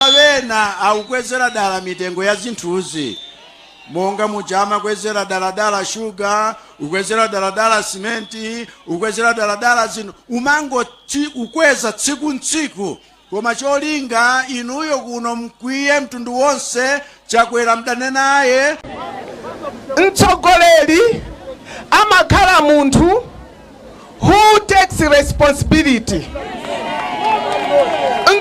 Chifukwa ena akukwezera dala mitengo ya zinthuzi monga muja amakwezera daladala shuga, kukwezera daladala simenti, kukwezera daladala zinthu, kumangokweza tsiku n'tsiku koma cholinga inuyo kuno mkwiye mtundu wonse Chakwera mdane naye. Mtsogoleri amakhala munthu who takes responsibility.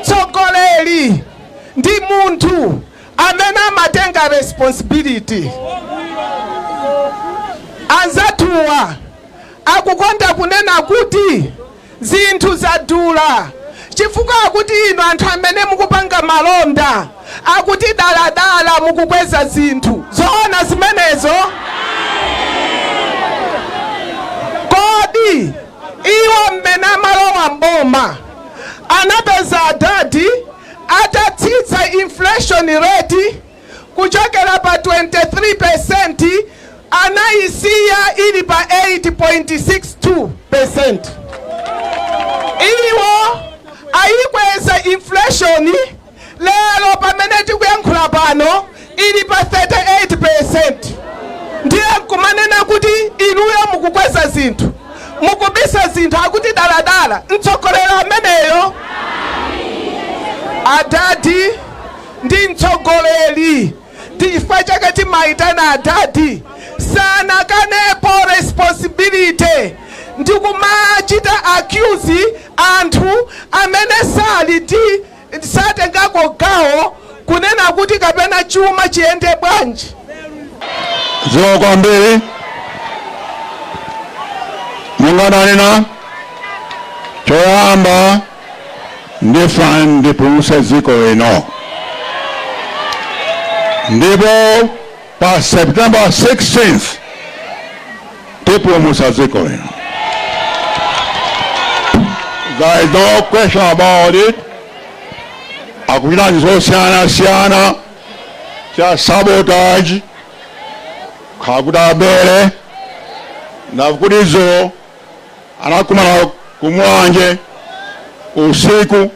Mtsogoleri ndi munthu amene amatenga responsibility. Anzathuwa akukonda kunena kuti Zinthu zadula chifukwa akuti inu anthu amene mukupanga malonda akuti dala dala mukukweza zinthu. Zoona zimenezo? Kodi iwo mmene amalowa m'boma anapeza adadi atatsitsa inflation rate? kuchokera pa 23% anaisiya ili pa 8.62%. Iwo ayikweza inflation lero pamene tikuyankhula pano ili pa 38%. Ndiye nkumanena kuti inuyo mukukweza zinthu mukubisa zinthu akuti daladala mtsogoleri ameneyo adadi ndi mtsogoleri ndi chifukwa chake timaitana adadi sanakanepo responsibility ndi kumachita accuse anthu amene sali ndi satengako gawo kunena kuti kapena chuma chiyende bwanji Zikomo kwambiri monga ndanena choyamba ndifuna ndipulumutse dziko lino ndipo pa september 16th tipulumutsa dziko lino there is no question about it akuchita zosiyanasiyana cha sabotage kakuti abere nakuti izo anakumana ku Mulanje usiku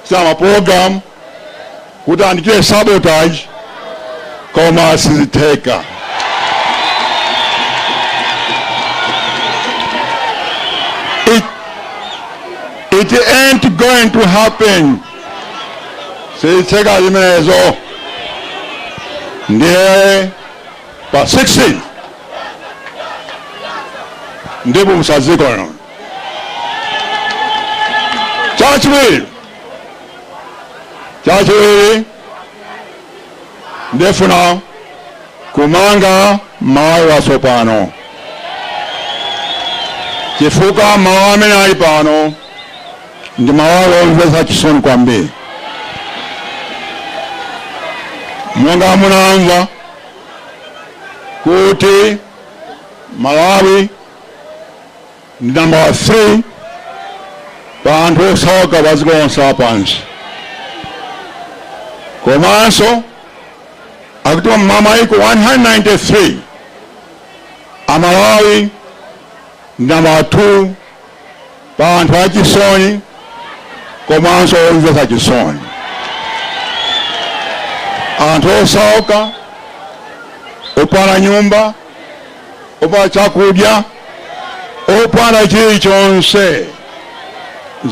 za maprogramu kuti andichite sabotage koma sizitheka. It, it ain't going to happen. Sizitheka zimenezo ndiye pa 16 ndipo musadzikono chachiwiri chachiwiri ndifuna kumanga Malawi watsopano chifukwa mawu amene ali pano ndi mawu omvetsa chisoni kwambiri monga munamva kuti Malawi ndi nambala 3 pa anthu osauka pa dziko lonse lapansi. Komanso akuti mwa maiko 193 Malawi ndi nambala 2 pa anthu achisoni komanso omvetsa chisoni, anthu osauka, opanda nyumba, opanda chakudya, opanda chilichonse,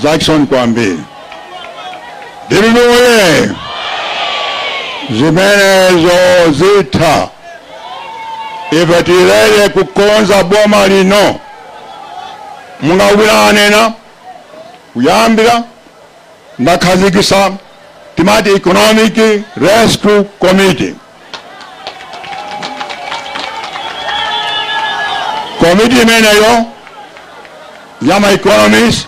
zachisoni kwambiri. Ndikalowa zimenezo zitha, ife tili kukonza boma lino. monga omwe anena kuyambira ndakhazikitsa timati economic rescue committee komiti imeneyo ya ma economist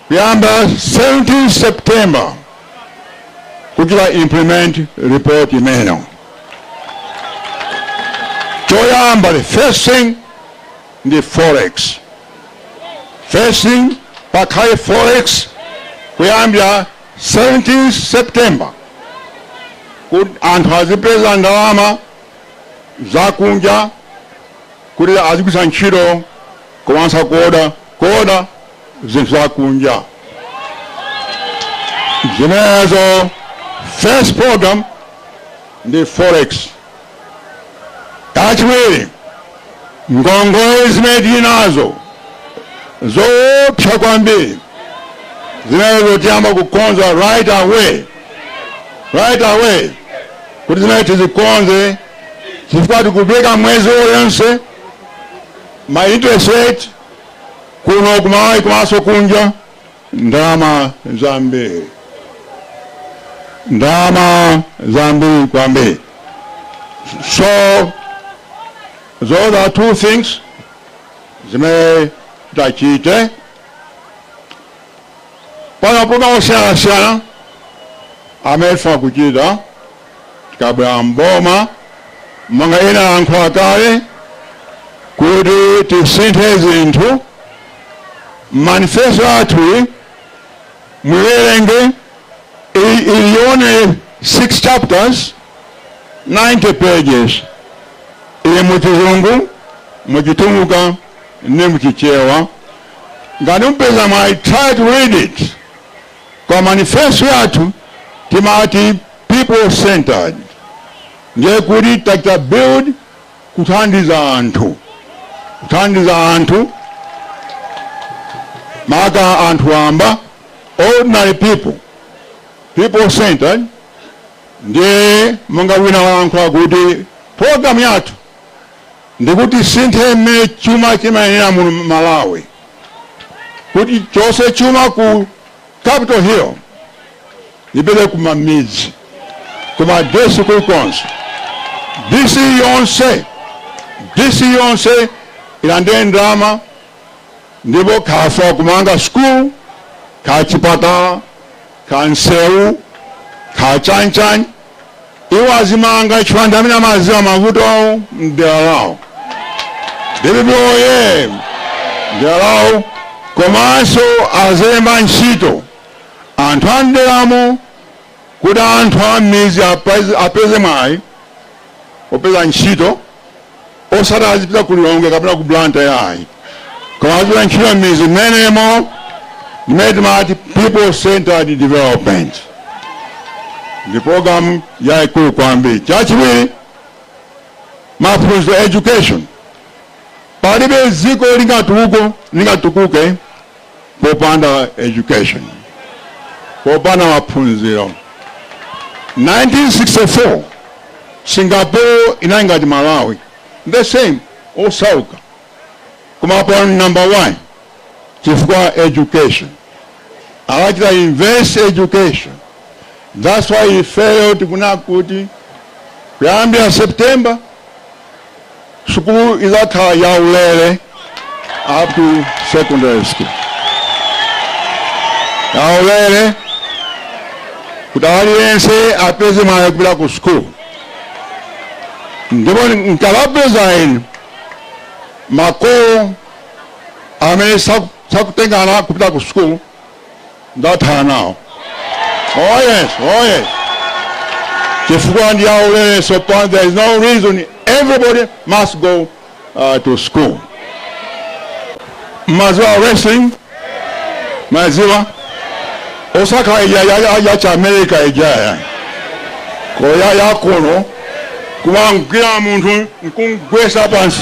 Kuyamba 17 September kuti ta implement report imeneyo. Choyamba the first thing ndi forex. First thing pakhale forex kuyambira 17 September kuti anthu azipeza ndalama zakunja kuti azigwiritsa ntchito komanso kuoda kuoda zinthu za kunja zimenezo first program ndi forex kachiwiri ngongole zimene tili nazo zoopsa kwambiri zimenezo tiyamba kukonza right away right away kuti zimene tizikonze chifukwa tikupereka mwezi uliwonse ma interest rate kuno kumalawi komanso kunja ndalama zambiri ndalama zambiri kwambiri so those are two things zimene tachite pali ma program osiyanasiyana amene tifuna kuchita tikabwera m'boma monga ena alankhula kale kuti tisinthe zinthu manifesto athu muiwerenge ili yonse six chapters 90 pages ili muchizungu muchitumbuka ndi muchichewa ngati mupeza mwayi try to read it koma manifesto yathu timati people centered ndiye kuti taichita build kuthandiza anthu kuthandiza anthu maka anthu wamba ordinary people people centered ndiye monga wina walankhula kuti programu yathu ndikuti tisinthe mmene chuma chimayendera muno Malawi kuti tichose chuma ku Capital Hill ipite kumamidzi ku ma DC kulikonse DC yonse DC yonse ilandire ndalama ndipo akafuna kumanga school ka chipatala ka nseu ka chanichani iwo azimanga chifukwa anthu amene amaziwa mavuto awo mdera lawo dpp oye mdera lawo komanso azilemba ntchito anthu a mderamo kuti anthu a m'mizi apeze- apeze mwayi opezera ntchito osati azipita ku lilongwe kapena ku blantyre ayi koma azipeza ntchito m'mizi mmenemo ndimene timati people centered development ndi programu yayikulu kwambiri chachiwiri maphunziro education palibe dziko lingatukuke lingatukuke popanda education popanda maphunziro 1964 singapore inali ngati malawi the same osauka koma pano number one chifukwa education anachita invest education that's why ifeyo tikufuna kuti kuyambira september Sukulu izakhala ya ulere up to secondary school. Ya ulere kuti aliyense apeze mwayi kupita ku sukulu. Ndipo nkawauza inu makolo amene saku- sakutenga ana kupita ku sukulu ndatha nawo oh yes oh yes chifukwa ndi yaulere so pano there is no reason everybody must go uh, to school maziwa wrestling maziwa osaka ija ya, ya, ya cha america ija ya koya yakono kumagwira munthu nkumugwetsa pansi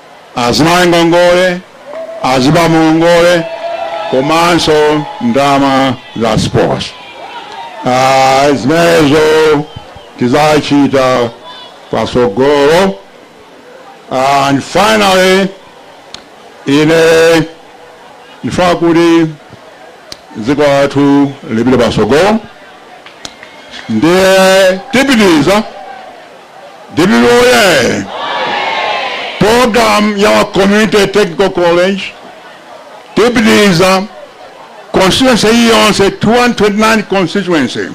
azimayi ngongole, azibambo ngongole komanso ndalama za sports. Ah, zimenezo tizachita pasogolo. And finally, ine ndifuna kuti dziko lathu lipite pasogolo ndiye tipitiriza Dpp oye! Program ya Community Technical College tipitiriza constituency iyi yonse 229 constituency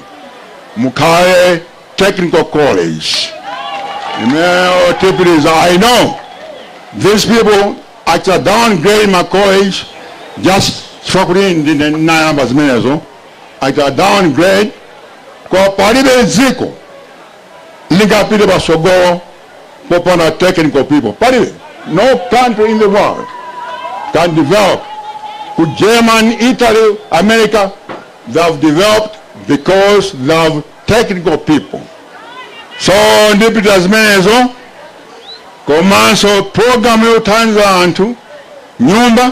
mukhale technical college imeneyo tipitiriza i know these people actually downgrade my college just chifukwa kuti ndine nayamba zimenezo actually downgrade koma palibe dziko lingapite patsogolo popanda technical people palibe no country in the world can develop Germany italy america they have developed because they have technical people so ndipita zimenezo komanso programu yothandiza anthu nyumba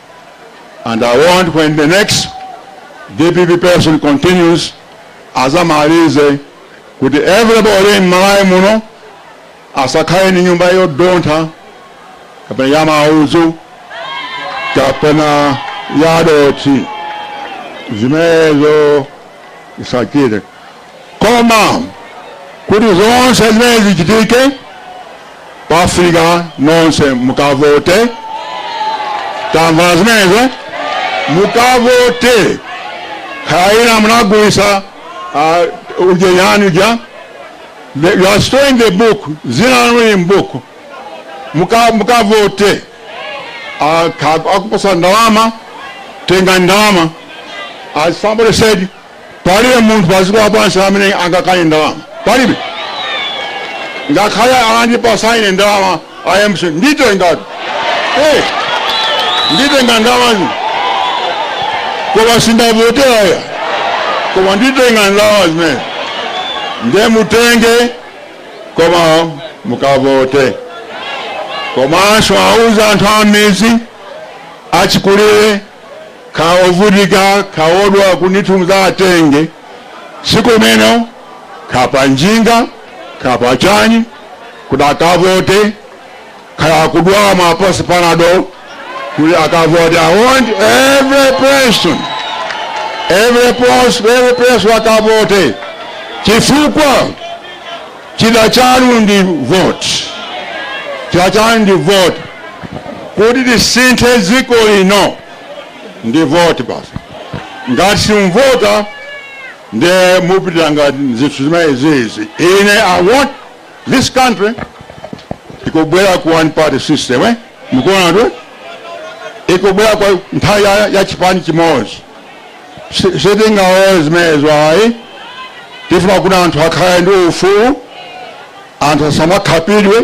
And I want when the next DPP person continues, azamalize kuti everybody m'malawi muno asakhale ni nyumba yodontha kapena ya maudzu kapena ya dothi zimenezo zisakhale Koma kuti zonse zimene zichitike pafunika nonse mukavote. Tamva zimenezo, mukavote. Kaya munagulisa uh, ujeni uja The- you are still in the book dzina lanu lili mbuku Muka- mukavote Aka- akupatsa ndalama tenga ndalama as somebody said Palibe munthu pa dziko lapansi amene angakane ndalama. Palibe. Ngakhale atandipatsa ine ndalama a mcp nditengatu. Hey, nditenga ndalamazi koma sindiwavotera ayi koma nditenga ndalama zimene nde mutenge koma mukavote komanso auzeni anthu a m'midzi achikulire ka ovutika ka odwa kunithunza atenge sikumeno kapa njinga kapa chani kuti akavote kaya akudwala mapasi panado kuti akavote i want every person every person every person akavote chifukwa Chida chanu ndi vote. Chida chanu ndi vote. Kuti tisinthe dziko lino ndi vote basi. Ngati simuvota nde mupitanso ndi zinthu zimenezizi. Ine I want this country ikubwera ku one party system eh? Mukuona kuti ikubwera kwa nthawi ya, ya chipani chimodzi. Sitingalore zimenezo ayi. Tifuna kuti anthu akhale ndi ufulu, anthu asamakhapidwe,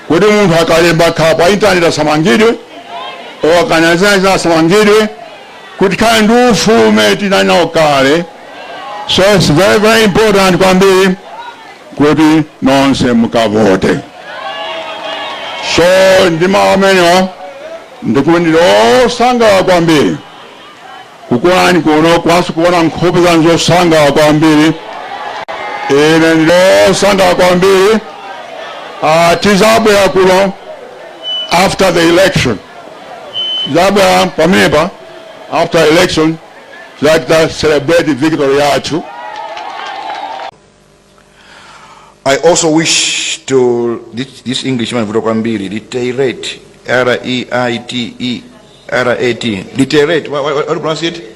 kuti munthu akalemba kapa intaneti asamangidwe, or akanena zina zina asamangidwe, kuti tikhale ndi ufulu umene tinali nawo kale. So it's very very important kwambiri kuti nonse mukavote. So ndi mawu amenewa ndikuti ndili osangalala kwambiri. Kukuonani kuno kwathu kuona nkhope zanu zosangalala kwambiri. Ine ndili osangalala kwambiri. Uh, tizabwera kuno after the election. Tizabwera pamenepa after election tizachita celebrate victory yathu. I also wish to this, this English man vuto kwambiri reiterate R E I T E R A T reiterate what, what, what do you pronounce it